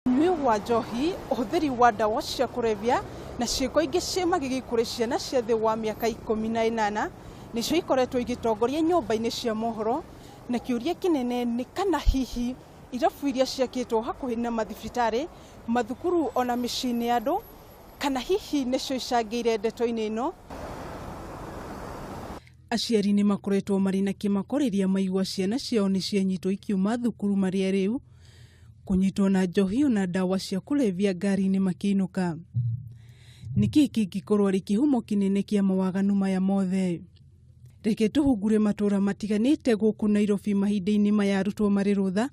Ũnyui wa njohi, ũhũthĩri wa ndawa cia kũrebia na ciĩko ingĩ cia magigi kũrĩ ciana cia thĩ wa mĩaka ikũmi na ĩnana nĩcio ikoretwo igĩtongoria nyũmba-inĩ cia mohoro na kĩũria kĩnene nĩ kana hihi irabu iria ciakĩtwo hakuhĩ na mathibitarĩ, mathukuru ona mĩciĩ-inĩ ya andũ kana hihi nĩcio icangĩire ndeto-inĩ ĩno. Aciari nĩ makoretwo marĩ na kĩmako rĩrĩa maigua ciana ciao nĩ cianyitwo ikiuma thukuru marĩa rĩu kũnyitwo na njohi na ndawa cia kũrebia ngari-inĩ makĩinũka. Nĩkĩ kĩngĩkorwo arĩ kĩhumo kĩnene kĩa mawaganu maya mothe? Reke tũhungure matũra matiganĩte gũkũ Nairobi mahinda-inĩ maya arutwo marĩ rũtha,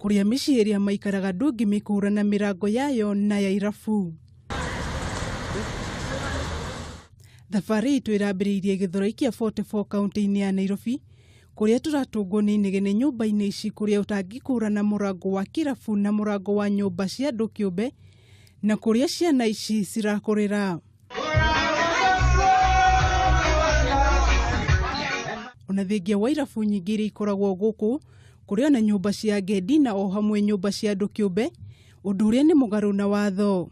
kũrĩa mĩciĩ ĩrĩa maikaraga ndũngĩmĩkũra na mĩrango yayo na ya irabu. Thabarĩ itũ ĩrambĩrĩirie gĩthoroi kĩa 44 kaunti-inĩ ya Nairobi, kũrĩa tũratũngwo nĩ inegene nyũmba-inĩ ici kũrĩa ũtangĩkũrana mũrango wa kĩrabu na mũrango wa nyũmba cia andũ kĩũmbe na kũrĩa ciana ici cirakũrĩra ona thengia wa irabu nyingĩ iria ikoragwo gũkũ kũrĩ ona nyũmba cia ngendi na o hamwe nyũmba cia andũ kĩũmbe ũndũ ũrĩa nĩ mũgarũ na watho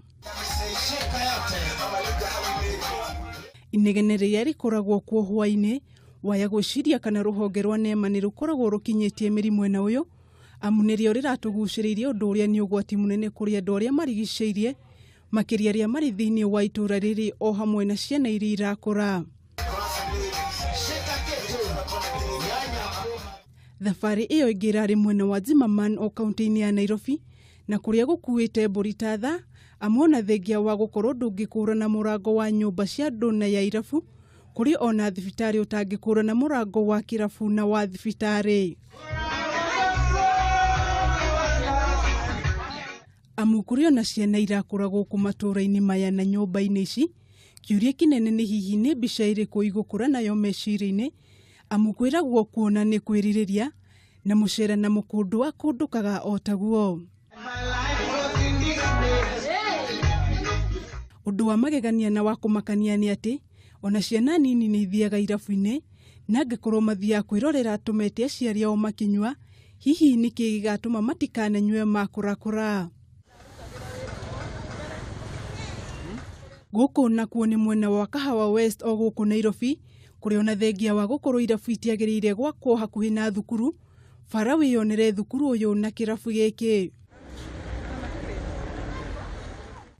inegene rĩrĩa rĩkoragwo kuo hwainĩ Waya gwĩciria kana rũhonge rwa NEMA nĩ rũkoragwo rũkinyĩtie mĩri mwena ũyũ amu nĩrĩo rĩratũgucĩrĩirie ũndũ ũrĩa nĩ ũgwati mũnene kũrĩ andũ arĩa marigicĩirie makĩria arĩa marĩ thĩinĩ wa itũra rĩrĩ o hamwe na ciana iria irakũra. Thabarĩ ĩyo ĩngĩ ĩrarĩ mwena wa Zimmerman o kaunti-inĩ ya Nairobi na kũrĩa gũkuĩte mbũri ta tha amu ona thengia wa gũkorwo ndũngĩkũrana mũrango wa nyũmba cia andũ na ya irabu Kũrĩ ona thibitarĩ ũtangĩkũra na mũrango wa kĩrabu na wa thibitarĩ. Amu kũrĩ ona ciana irakũra gũkũ matũũra-inĩ maya na nyũmba-inĩ ici, kĩũria kĩnene nĩ hihi nĩ mbica ĩrĩkũ igũkũra nayo meciria-inĩ, amu kwĩragwo kuona nĩ kwĩrirĩria, na mũcere na mũkũndwa kũndũkaga o taguo ũndũ wa magegania na wa kũmakania nĩ atĩ ona ciana nini nĩ ithiaga irabu-inĩ na angĩkorwo mathiaga kwĩrorera tũmete aciari ao makinyua hihi nĩkĩ gĩgatũma matikananyue makũrakũra Gũkũ nakuo nĩ mwena wa Kahawa West o gũkũ Nairobi, kũrĩa ona thengia wa gũkorwo irabu itiagĩrĩire gwakwo hakuhĩ na thukuru, bara wĩyonere thukuru ũyũ na kĩrabu gĩkĩ.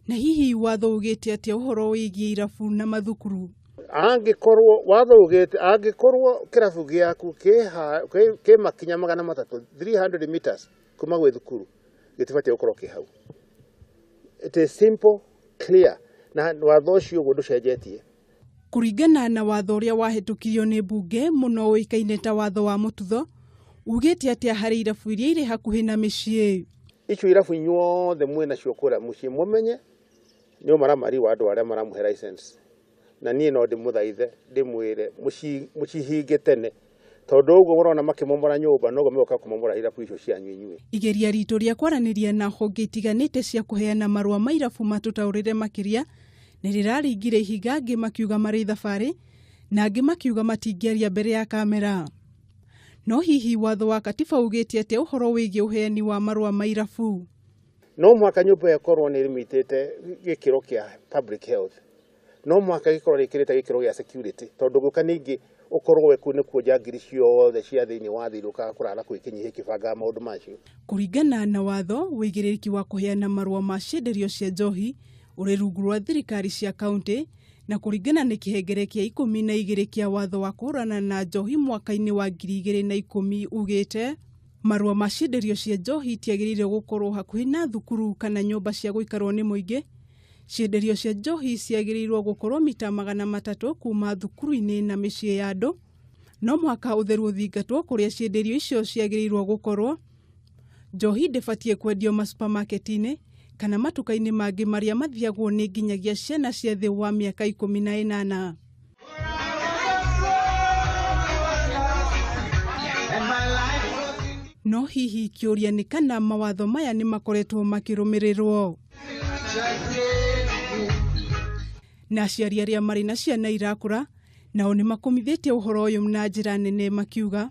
Na hihi watho ugĩte atĩa ũhoro wĩgiĩ irabu na mathukuru? angĩkorwo watho ugĩte angĩkorwo kĩrabu gĩaku kĩ ha- kĩ- kĩ makinya magana matatũ 300 meters kuma gwĩ thukuru gĩtibatiĩ gũkorwo kĩ hau it is simple clear na watho ũcio ũguo ndũcenjetie Kũringana na watho ũrĩa wahĩtũkirio nĩ mbunge mũno ũĩkaine ta watho wa mũtutho, ugĩte atĩa harĩ irabu iria irĩ hakuhĩ na mĩciĩ? icio irabu inyuothe mwĩ nacio kũrĩa mũciĩ mũmenye nĩ ũmaramari wa andũ arĩa maramũhe license na niĩ no ndĩmũthaithe ndĩmwĩre mũcihinge tene tondũ ũguo mũrona makĩmomora nyũmba noguo mĩgoka kũmomora irabu icio cianyu inyuĩ. Igeria ritũ rĩa kwaranĩria na honge itiganĩte cia kũheana marũa ma irabu matũtaũrĩre makĩria nĩ rĩraringire ihinga angĩ makiuga marĩ thabarĩ na angĩ makiuga matingĩaria mbere ya kamera. No hihi watho wa Katiba ugĩte atĩa ũhoro wĩgiĩ ũheani wa marũa ma irabu? No mũhaka nyũmba ĩyo ĩkorũo nĩ ĩrĩmĩtĩte gĩkĩro kĩa public health. no mũhaka gĩkorwo rĩkĩrĩte gĩkĩro gĩa security tondũ gũka ningĩ ũkorwo we kuu nĩkuo njangiri ciothe cia thĩinĩ wa thĩ irũkaga kũrara kũu ikĩnyiha ikĩbangaga maũndũ macio Kũringana na watho, wĩigĩrĩrĩki wa kũheana marũa ma cienderio cia njohi ũrĩ rungu rwa thirikari cia kaunti, na kũringana na kĩhengere kĩa ikũmi na igĩrĩ kĩa watho wa kũhũrana na njohi mwaka-inĩ wa ngiri igĩrĩ na ikũmi ugĩte, marũa ma cienderio cia njohi itiagĩrĩire gũkorwo hakuhĩ na thukuru kana nyũmba cia gũikarwo nĩ mũingĩ, Cienderio cia njohi ciagĩrĩirwo gũkorwo mita magana matatũ kuma thukuru-inĩ na mĩciĩ ya andũ. No mũhaka ũtheru ũthingatwo kũrĩa cienderio icio ciagĩrĩirwo gũkorwo. Njohi ndĩbatiĩ kwendio masupamaketi-inĩ kana matuka-inĩ mangĩ marĩa mathiagwo nĩ nginyagia ciana cia thĩ wa mĩaka ikũmi na ĩnana. no hihi kĩũria nĩ kana mawatho maya nĩ makoretwo makĩrũmĩrĩrwo na aciari arĩa marĩ na ciana irakũra nao nĩ makomithĩtie ũhoro ũyũ na njĩra nene makiuga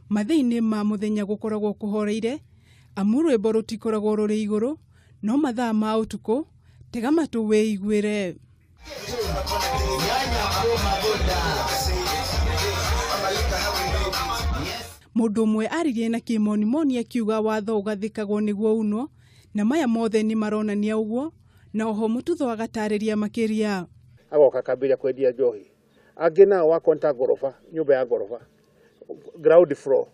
Mathĩinĩ ma mũthenya gũkoragwo kũhoreire, amu rwĩmbo rũtikoragwo rũrĩ igũrũ, no mathaa ma ũtukũ tega matũ wĩiguĩre. Mũndũ ũmwe aririe na kĩmonimoni akiuga watho ũgathĩkagwo nĩguo unwo, na maya mothe nĩ maronania ũguo, na oho Mũtutho agatarĩria makĩria. agoka akambĩrĩria kwendia njohi, angĩ nao wa kũnta ngoroba nyũmba ya ngoroba. ground floor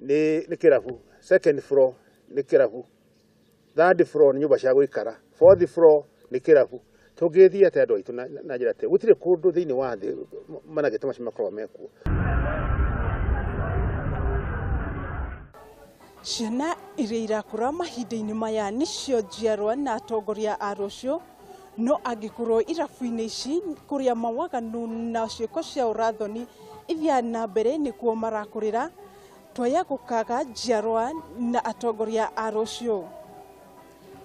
nĩ nĩ kĩrabu second floor nĩ kĩrabu third floor nĩ nyũmba cia gũikara fourth floor nĩ kĩrabu tũngĩthiĩ atĩ andũ aitũ na- na njĩra atĩ gũtirĩ kũndũ thĩinĩ wa thĩ managĩte macio makoragwo mekuo Ciana iria irakũra mahinda-inĩ maya nĩcio njiarwa na atongoria a rũciũ No angĩkorwo irabu-inĩ ici kũrĩa mawaganu na ciĩko cia ũrathoni ithiaga na mbere nĩkuo marakũrĩra, twaya gũkaga njiarwa na atongoria a rũciũ.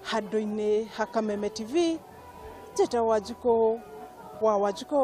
Handũ-inĩ ha Kameme TV, Njĩta Wanjikũ wa Wanjikũ.